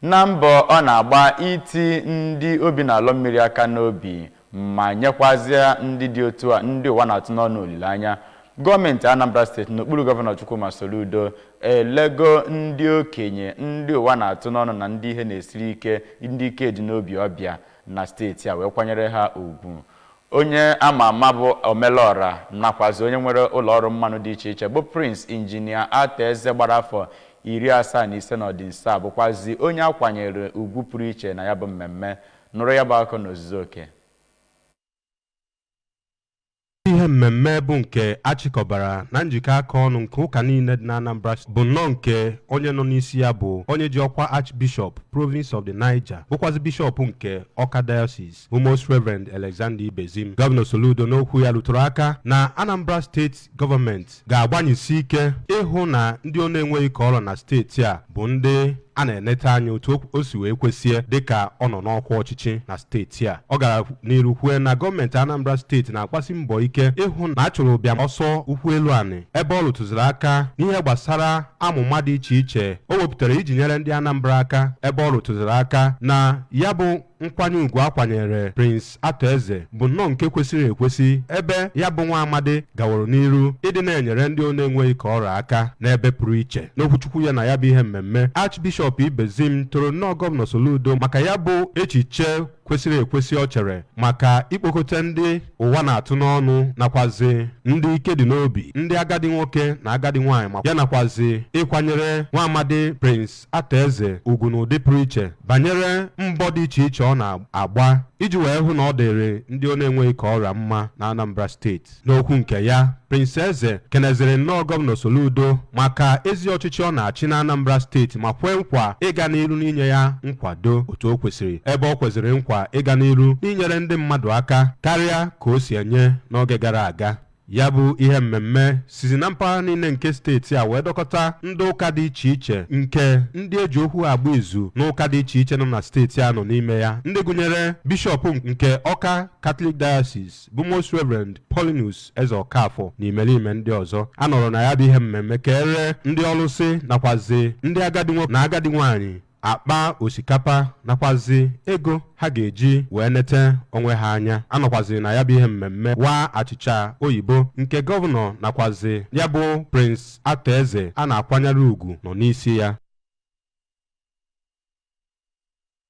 Na mbọ ọ na-agba iti ndị obi na-alọ mmiri aka n'obi ma nyekwazịa ndị dị otu a ndị ụwa na-atụ n'ọnụ olileanya, gọọmenti Anambra steeti n'okpuru Gọvanọ Chukwuma Soludo elego ndị okenye ndị ụwa na-atụ n'ọnụ na ndị ihe na-esiri ike, ndị ike dị n'obi ọbịa na steeti a wee kwanyere ha ugwu. Onye a ma ama bụ Omelọra nakwazi onye nwere ụlọọrụ mmanụ dị iche iche bụ Prince Injinia Arthur Eze gbara afọ iri asaa na ise n'ọdịnso a bụkwazi onye a kwanyere ugwu pụrụ iche na ya bụ mmemme. Nụrụ ya bụ akụkọ n'ozuzu oke. Ihe mmemme bụ nke a chịkọbara na njikọ aka ọnụ nke ụka niile dị n'Anambra steeti bụ nnọọ nke onye nọ n'isi ya bụ onye ji ọkwa Archbishop, Province of the Niger, bụkwazi bishọp nke Awka Diocese. bụ Most Reverend Alexander Ibezim gọvanọ Soludo n'okwu ya rụtụrụ aka na Anambra steeti gọọmenti ga-agbanyesi ike ịhụ na ndị ọ na-enweghị ka ọ ra na steeti a bụ ndị a na-enete anya otu o si wee kwesịe dịka ọ nọ n'ọkwa ọchịchị na steeti a ọ gara n'iru kwue na gọọmenti Anambra steeti na-agbasi mbọ ike ịhụ na a chụrụ ụbịam ọsọ ụkwụ elu anị ebe ọ rụtụziri aka n'ihe gbasara amụma dị iche iche o wepụtara iji nyere ndị Anambra aka ebe ọ rụtụziri aka na ya bụ nkwanye ugwu a kwanyere Prince Arthur Eze bụ nnọọ nke kwesịrị ekwesị ebe ya bụ nwa amadi gaworo n'iru ịdị na-enyere ndị ọ na-enweghị ka ọ ra aka n'ebe pụrụ iche n'okwuchukwu ya na ya bụ ihe mmemme Archbishop Ibezim toro nnọọ gọvanọ Soludo maka ya bụ echiche kwesịrị ekwesị ọ chere maka ikpokọta ndị ụwa na-atụ n'ọnụ nakwazi ndị ike dị n'obi ndị agadi nwoke na agadi nwaanyị ya nakwazi ịkwanyere nwa amadi Prince Arthur Eze ugwu n'ụdị pụrụ iche banyere mbọ dị iche iche ọ na-agba iji wee hụ na ọ dịrị ndị ọ na-enweghị ka ọ ra ya mma na Anambra steeti. N'okwu nke ya, Prince Eze keneziri nnọọ Gọvanọ Soludo maka ezi ọchịchị ọ na-achị na Anambra steeti ma kwee nkwa ịga n'iru n'inye ya nkwado otu o kwesịrị ebe o kweziri nkwa ịga n'iru n'inyere ndị mmadụ aka karịa ka o si enye n'oge gara aga. ya bụ ihe mmemme sizi na mpaghara niile nke steeti a wee dọkọta ndị ụka dị iche iche nke ndị e ji okwu ha agba izu n'ụka dị iche iche nọ na steeti a nọ n'ime ya ndị gụnyere bishọp nke ọka katọlik diocese bụ most reverend paulinus ezeokafor na imerime ndị ọzọ a nọrọ na ya bụ ihe mmemme keere ndị ọlụsị nakwazi ndị agadi nwoke na agadi nwaanyị akpa osikapa nakwazi ego ha ga-eji wee nete onwe ha anya a nọkwazi na ya bụ ihe mmemme waa achịcha oyibo nke gọvanọ nakwazi ya bụ Prince Arthur Eze a na-akwanyere ugwu nọ n'isi ya